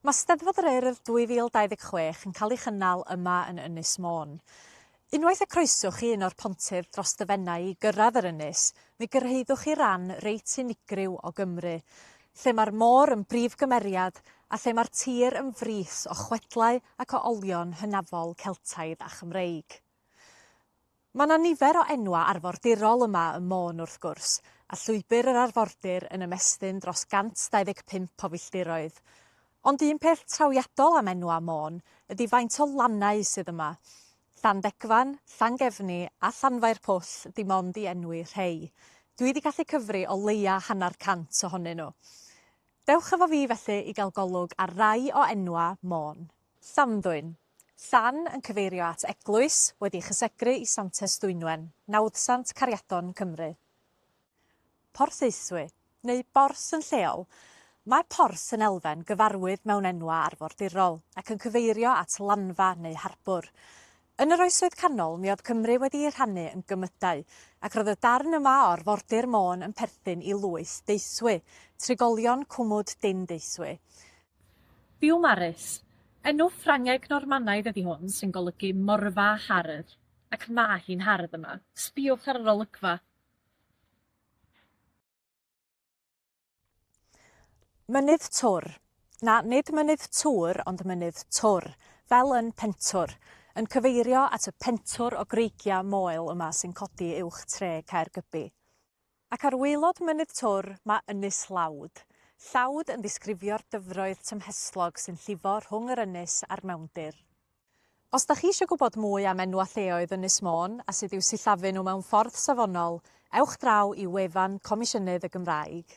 Mae Steddfod yr Urdd 2026 yn cael ei chynnal yma yn Ynys Môn. Unwaith y croeswch chi un o'r pontydd dros dy Fenai i gyrraedd yr ynys, mi gyrhaeddwch chi ran reit unigryw o Gymru, lle mae'r môr yn brif gymeriad a lle mae'r tir yn frith o chwedlau ac o olion hynafol Celtaidd a Chymreig. Mae 'na nifer o enwau arfordirol yma ym Môn wrth gwrs, a Llwybr yr Arfordir yn ymestyn dros 125 o filltiroedd. Ond un peth trawiadol am enwau Môn ydi faint o lannau sydd yma. Llanddegfan, Llangefni a Llanfair Pwll 'di mond i enwi rhei. Dwi 'di gallu cyfri o leia' hanner cant ohonyn nhw. Dewch efo fi felly i gael golwg ar rai o enwau Môn. Llanddwyn. Llan yn cyfeirio at eglwys wedi chysegru i Santes Dwynwen, nawddsant Cariadon, Cymru. Porthaethwy, neu Borth yn lleol, Mae Porth yn elfen gyfarwydd mewn enwau arfordirol, ac yn cyfeirio at lanfa neu harbwr. Yn yr Oesoedd Canol mi oedd Cymru wedi'i rhannu yn gymydau, ac roedd y darn yma o arfordir Môn yn perthyn i lwyth Deithwy, trigolion Cwmwd Dyn Deithwy. Biwmaris, enw Ffrangeg Normanaidd ydi hwn sy'n golygu morfa hardd, ac ma' hi'n hardd yma, sbïwch ar yr olygfa! Mynydd Twr, na, nid Mynydd Tŵr ond Mynydd Twr, fel yn Pentwr, yn cyfeirio at y pentwr o greigiau moel yma sy'n codi uwch tre Caergybi. Ac ar waelod Mynydd Twr mae Ynys Llawd. Llawd yn ddisgrifio'r dyfroedd tymhestlog sy'n llifo rhwng yr ynys a'r mewndir. Os da chi eisiau gwybod mwy am enw a lleoedd Ynys Môn a sut i'w sillafu nhw mewn ffordd safonol, ewch draw i wefan Comisiynydd y Gymraeg.